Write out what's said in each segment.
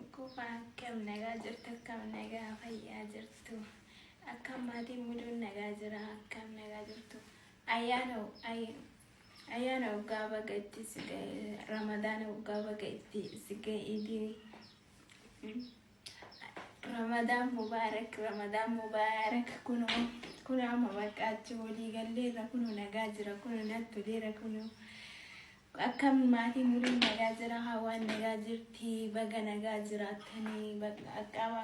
Ukufaa akkam nagaa jirtu akkam nagaa fayyaa jirtu akkam maatiin muduun nagaa jira akkam nagaa jirtu ayyaana ay- ayyaana waggaa baga itti si ga'e ramadaana waggaa baga itti si ga'e idii ramadaan mubaarak ramadaan mubaarak kunoo kunoo amma baqqaachi walii galleerra kunoo nagaa jira kunoo nattoleera kunoo Akkam maatii murii nagaa jira hawaan nagaa jirti baga nagaa jiraattani baga akkama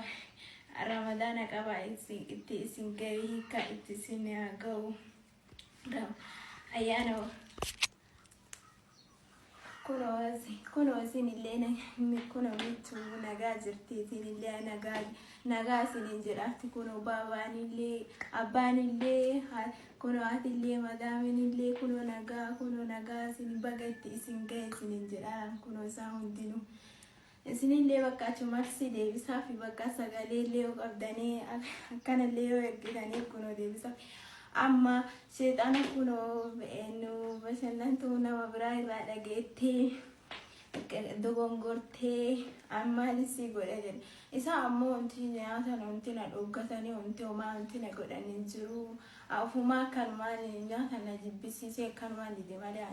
ramadaana qaba itti isin ga'e hiikaa itti isin haa ga'u ayyaana kunoo isin illee kunoo mitu nagaa jirti isin illee nagaa nagaa isin jedhaatti kunoo baabaan illee abbaan illee Kunoo atillee madaaminillee kunoo nagaa kunoo nagaa isin baga itti isin gahe isinin jedhaaraan kunoo isaan hundinuu isinillee bakka achumarsi deebisaafi bakka sagaleellee yoo qabdanii akkanallee yoo ergitanii kunoo deebisaafi amma seexana kunoo nu bashannantuu nama biraa irraa dhageettee dogongortee armaan isii godhe jedhe isaa ammoo wanti nyaatan wanti na dhuggatanii wanti homaa wanti na godhan hin jiru ofumaa akkanumaan nyaata na jibbisiisee akkanumaan dide malee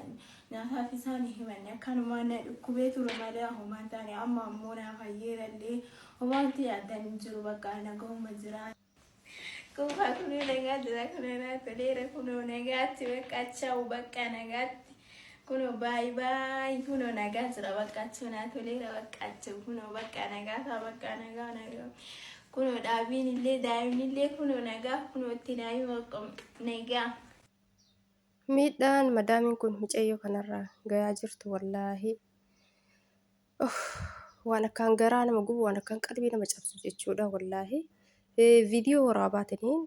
nyaataaf isaan hin himanne akkanumaan na dhukkubee ture malee homaa hin taane amma ammoo naa fayyeerallee homaa wanti yaaddan hin jiru bakka nagahuma jiraa. Kuufaa kunoo nagaa jira kunoo naa toleera kunoo nagaatti bakka chawu bakka nagaatti kunoo baay baay kunoo nagaa jira bakka chawu naa toleera bakka chawu kunoo bakka nagaa faa bakka nagaa nagaa kunoo dhaabiin illee daa'imni illee kunoo nagaa kunoo itti daa'ima bakka nagaa. Miidhaan madaamiin kun micayyoo kanarra gayaa jirtu wallaahi. Waan akkaan garaa nama gubu waan akkaan qalbii nama cabsu jechuudha wallaahi. Viidiyoo waraabaatiniin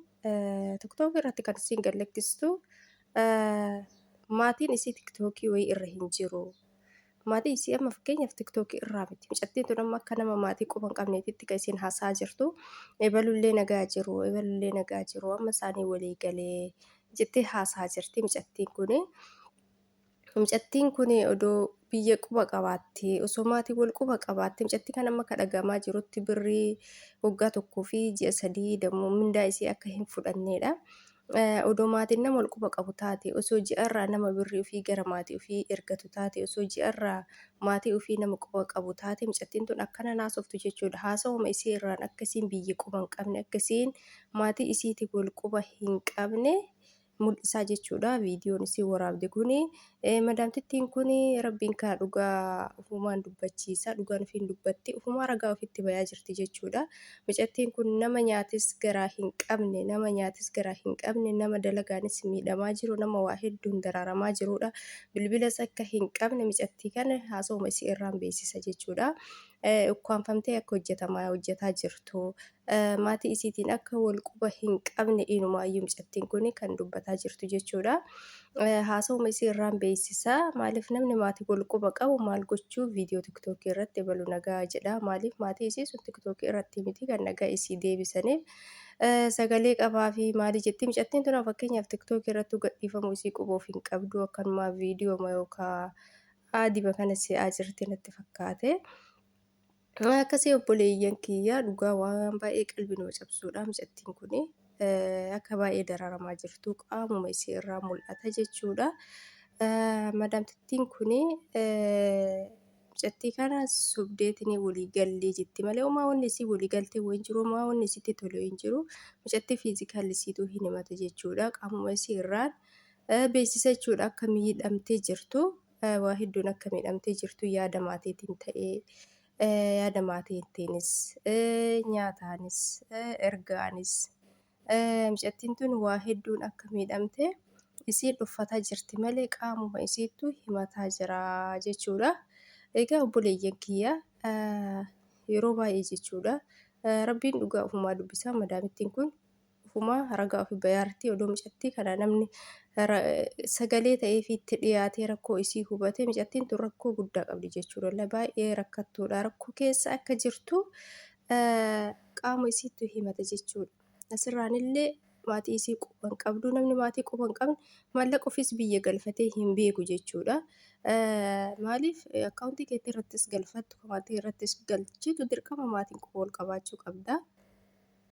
tiktookii irratti kan isiin gallakkistu maatiin isii tiktookii wayii irra hin jiru. Maatii isii amma fakkeenyaaf tiktookii irraa miti. Mucattiin tun amma akka nama maatii quba hin qabneetitti kan isiin haasaa jirtu. Ebalullee nagaa jiru, ebalullee nagaa jiru, amma isaanii walii galee jettee haasaa jirti mucattiin kuni. Mucattiin kun odoo biyya quba qabaattee, osoo maatiin wal quba qabaattee, mucattii kan amma akka dhagahamaa jirutti birrii waggaa tokkoo fi ji'a sadii dammoo mindaa isii akka hin fudhanneedha. Odoo maatiin nama wal quba qabu taate, osoo ji'arraa nama birrii ofii gara maatii ofii ergatu taate, osoo ji'arraa maatii ofii nama quba qabu taate, mucattiin tun akkana hin haasoftu jechuudha. Haasawuma isii irraan akka isiin biyya quba hin qabne, akka isiin maatii isiitiin wal quba hin qabne mul'isaa jechuudha viidiyoon isin waraabde kuni madaamtittiin kuni rabbiin kaa dhugaa ufumaan dubbachiisa dhugaan ofiin dubbatti ufumaa ragaa ofitti bayaa jirti jechuudha micattiin kun nama nyaatis garaa hin qabne nama nyaatis garaa hin qabne nama dalagaanis miidhamaa jiru nama waa hedduun daraaramaa jiruudha bilbilas akka hin qabne micattii kana haasa'uma isii irraan beeksisa jechuudha ukkaanfamtee akka hojjetamaa hojjetaa jirtu Maatii isiitiin akka wal quba hin qabne inumaayyuu mucattiin kun kan dubbataa jirtu jechuudha. Haasawuma isii irraan beeksisa. Maaliif namni maatii wal quba qabu maal gochuu viidiyoo tiktookii irratti ebalu nagaa jedha. Maaliif maatii isii sun tiktookii irratti miti kan nagaa isii deebisaniif. Sagalee qabaa fi maalii jetti mucattiin tun fakkeenyaaf tiktookii irratti gadhiifamuu isii quboof hin qabdu akkanumaa viidiyoo yookaan aadima kana si'aa jirti natti fakkaate. Akkasii obboleeyyan kiyyaa dhugaa waan baay'ee qalbii nama cabsuudha mucattiin kun akka baay'ee dararamaa jirtu qaamuma isii irraa mul'ata jechuudha. Madaamtittiin kun mucattii kana sobdeetiin walii gallee jetti malee homaa wanni isii walii galtee hin jiru homaa wanni isitti tole hin jiru mucattii fiizikaalli isiitu hin himata jechuudha qaamuma isii irraan beeksisa jechuudha akka miidhamtee jirtu waa hedduun akka miidhamtee jirtu yaada maatiitiin ta'ee yaada maatiitiinis nyaataanis ergaanis mucattiin tun waa hedduun akka miidhamte isiin dhuffataa jirti malee qaamuma isiittu himataa jira jechuudha. Egaa obboleeyyan kiyya yeroo baay'ee jechuudha rabbiin dhugaa ofumaa dubbisaa madaamittiin kun ofumaa ragaa ofi bayaarti odoo micattii kana namni sagalee ta'ee fi itti dhiyaatee rakkoo isii hubate micattiin tun rakkoo guddaa qabdi jechuu dalla baay'ee rakkattuudha rakkoo keessa akka jirtu qaama isiittu himata jechuudha. Asirraanillee maatii isii quba hin qabdu. Namni maatii quba hin qabne maallaqa ofiis biyya galfatee hin beeku jechuudha. Maaliif akkaawuntii keetti irrattis galfattu maatii irrattis galchitu dirqama maatiin quba wal qabaachuu qabda.